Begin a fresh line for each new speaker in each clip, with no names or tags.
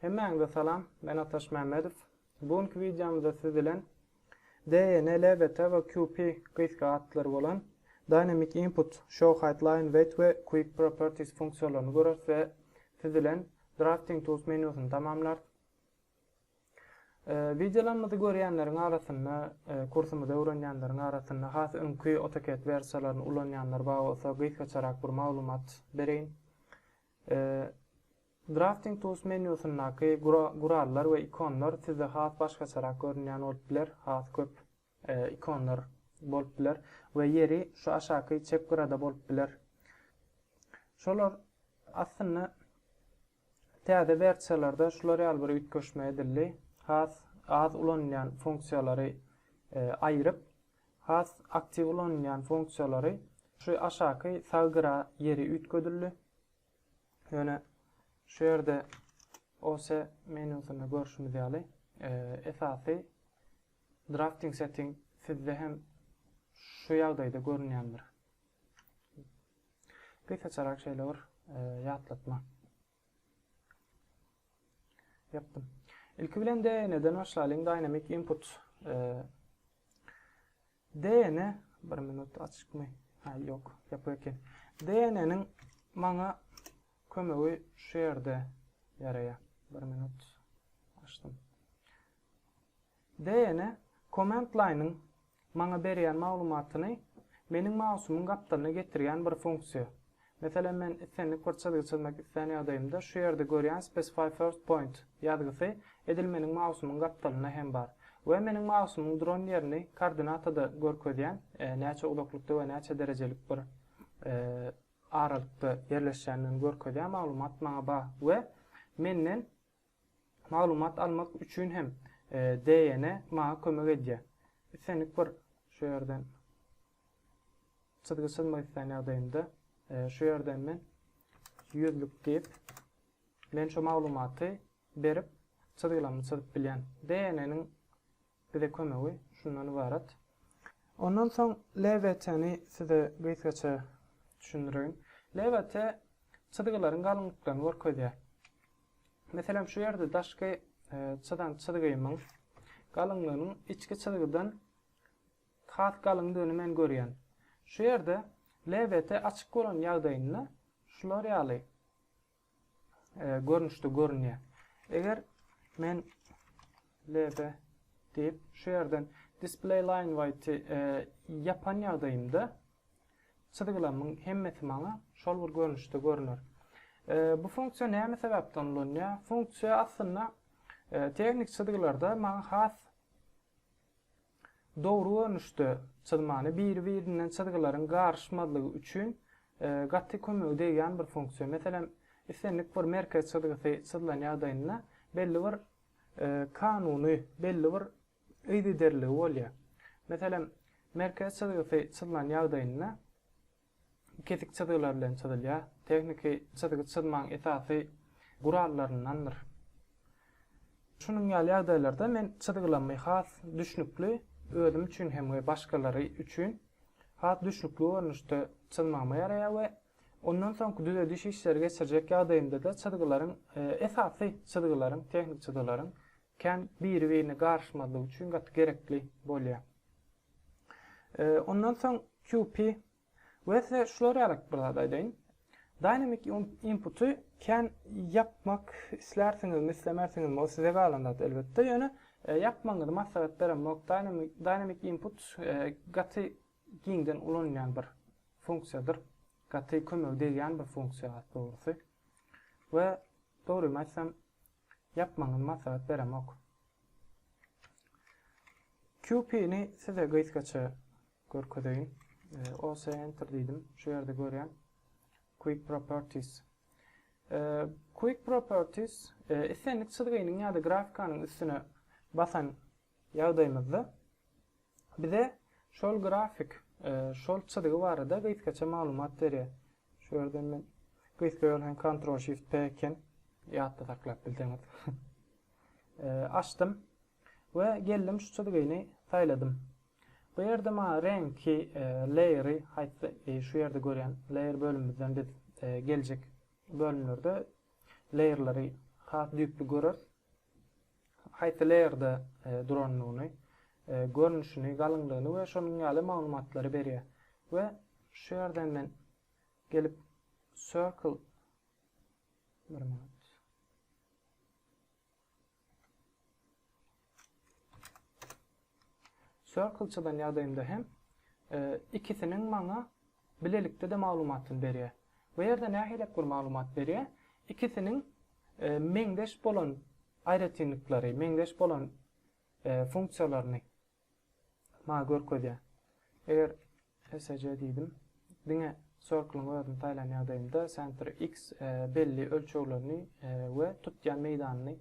Hemmäňize salam, men Ataş Mämmedow. Bu günki wideomyzda siz bilen DEN, LBT we QP gysga atlary bolan Dynamic Input, Show Height Line Weight we Quick Properties funksiýalaryny göreris we siz bilen Drafting Tools menýusyny tamamlarys. Wideolarymyzy görýänleriň arasynda, kursumyzy öwrenýänleriň arasynda has öňki AutoCAD wersiýalaryny ulanýanlar bar bolsa, gysgaçarak bir maglumat bereýin. Drafting Tools menýusyndaky gurallar we ikonlar sizde has başgaçarak görünýän bolup biler, has köp ikonlar bolup biler we ýeri şu aşaky çep gyrada bolup biler. Şolar aslynda täze wersiýalarda şular ýaly bir üýtgeşme edildi. Has az ulanylýan funksiýalary aýryp, has aktiw ulanylýan funksiýalary şu aşaky sag gyra ýeri üýtgedildi. Ýöne şu ýerde OS menýusynda görşümiz ýaly esasy Drafting setting sizde hem şu ýagdaýda görünýändir. Gysgaçarak şeýle bir ýatlatma. Ýapdym. Ilki bilen DN-den başlaýlyň, Dynamic Input. DN, bir minut açykmy? Ha, ýok, ýapyk eken. DN-niň maňa kömegi şu ýerde ýaraýar. Bir minut açdym. Dna Command Line-yň maňa berýän maglumatyny meniň mausumyň gapdalyna getirýän bir funksiýa. Meselem, men islendik bir çyzgy çyzmak islän ýagdaýymda şu ýerde görýän Specify First Point ýazgysy edil meniň mausumyň gapdalynda hem bar we meniň mausumyň duran ýerini koordinatada görkezýän näçe uzaklykda we näçe derejelik bir aralykda ýerleşýändigini görkezýän maglumat maňa bar we menden Maglumat almak üçin hem DN maňa kömek edýär. Islendik bir şu ýerden çyzgy çyzmak islän ýagdaýymda şu ýerden men ýüzlük diýip men şu maglumaty berip çyzgylamy çyzyp bilýän. DN-niň bize kömegi şundan ybarat. Ondan soň LVT-ni size gysgaça düşündireýin. LVT çyzgylaryň galyňlyklaryny görkezýär. Meselem şu ýerde daşky çyzan çyzgymyň galyňlygynyň içki çyzgydan has galyňdygyny men görýän. Şu ýerde LVT açyk bolan ýagdaýynda şular ýaly görnüşde görünýär. Eger men lb diýip, şu ýerden display line white ýapan ýagdaýymda çyzgylamyň hemmesi maňa şol bir görnüşde görüner. Bu funksiýa näme sebäpden ulanýar? Funksiýa aslynda tehnik çyzgylarda maňa has Dogry görnüşde çyzmany biri-birinden çyzgylaryň garyşmazlygy üçin gaty kömegi degýän bir funksiýa. Meselem, islendik bir merkez çyzgysy çyzylan ýagdaýynda belli bir kanuny, belli bir yzygiderliligi bolýar. Meselem, merkez çyzgysy çyzylan ýagdaýynda kesik çyzgylar bilen çyzylýar. Tehniki çyzgy çyzmagyň esasy gurallaryndandyr. Şunuň ýaly ýagdaýlarda men çyzgylamy has düşnükli, özüm üçin hem we başgalary üçin has düşnükli görnüşde çyzmagyma ýaraýar we ondan soňky düzediş işleri geçirjek ýagdaýymda-da çyzgylaryň, esasy çyzgylaryň, tehniki çyzgylaryň kän biri-birine garyşmazlygy üçin gaty gerekli bolýar. Ondan soň QP we size şular ýalyk bir zat aýdaýyn. Dynamic inputy kän ýapmak islärsiňizmi, islemersiňizmi, o size galan zat elbetde. Ýöne e, ýapmagyňyzy maslahat beremok. Dynamic input e, gaty giňden ulanylýan bir funksiýadyr. Gaty kömegi degýän bir funksiýa dogrusy. We dogrymy aýtsam, Ýapmagyňyzy maslahat beremok. QP ni size gysgaça görkezeýin. OS enter diýdim. Şu ýerde görýän. Quick properties. Quick properties islendik çyzgynyň ýa-da grafkanyň üstüne basan ýagdaýymyzda bize şol grafik, şol çyzgy barada gysgaça maglumat berýär. Şu ýerden men gysga ýol hem Ctrl Shift P eken, ýatda saklap bilseňiz. Açdym we geldim şu çyzgyny saýladym. Bu ýerde maňa reňki, layer-y haýsy, şu ýerde görýän layer bölümimizden biz geljek bölümlerde layer-lary has düýpli göreris. haýsy leýerde durandygyny, görnüşini, galyňlygyny we şonuň ýaly maglumatlary berýär. We şu ýerden men gelip circle bir minut. Circle çyzan ýagdaýymda hem ikisiniň maňa Bilelikde-de maglumatyny berýär. Bu ýerde nähilek bir maglumat berýär? Ikisiniň meňzeş bolan aýratynlyklary, meňzeş bolan funksiýalaryny maňa görkezýär. Eger SC diýdim, diňe circle-yň özüni saýlan ýagdaýymda center X belli ölçeglerini we tutýan meýdanyny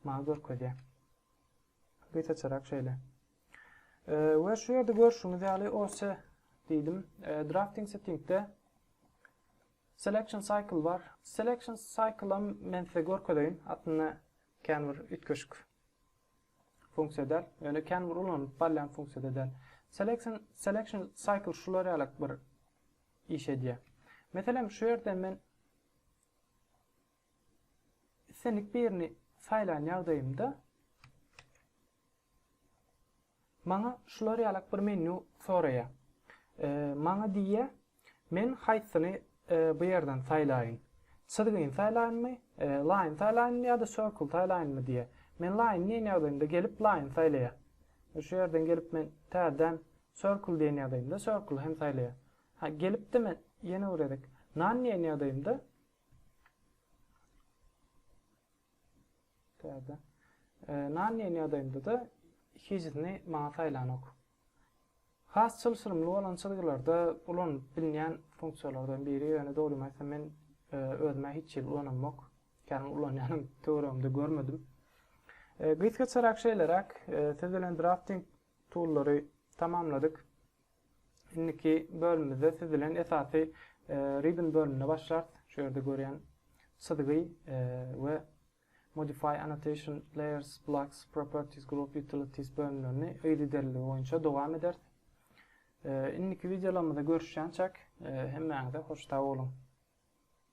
Maňa görkezýär. Gysgaçarak şeýle. We şu ýerde görşüňiz ýaly OC diýdim. Drafting settingde Selection cycle bar. Selection cycle men size görkezeýin. Aslynda kän bir üýtgeşik funksiýa däl. Ýöne kän bir ulanyp barýan funksiýa däl. Selection selection cycle şular ýaly bir iş edýär. Meselem şu ýerde men Islendik birini saýlan ýagdaýymda, maňa şular ýalak bir menýu soraýar. Maňa diýýär, men haýsyny bu ýerden saýlaýyn? Çyzgyny saýlaýynmy, line saýlaýynmy ýa-da circle saýlaýynmy diýýär. Men line diýen ýagdaýymda gelip line saýlaýar. Şu ýerden gelip men täzeden circle diýen ýagdaýymda circle hem saýlaýar. Ha gelipdi men ýene bir gezek none diýen ýagdaýymda Täze. Nan diýen ýagdaýynda-da hijisini maňa saýlanok. Has çylşyrymly bolan çyzgylarda ulanylyp bilnýän funksiýalardan biri, ýöne dogrymy aýtsam men özüm-ä hiç hili ulanamok. Kän ulanýanam töweregimde görmedim. Gysgaçarak şeýleräk, siz bilen drafting tullary tamamladyk. Indiki bölümimizde siz bilen esasy Ribbon bölüminde başlarys. Şu ýerde görýän çyzgy we Modify Annotation Layers Blocks Properties Group Utilities bölümlerini yzygiderliligi boýunça dowam ederis. Indiki wideolarymyzda görüşýänçäk hemmäňize hoş sag boluň.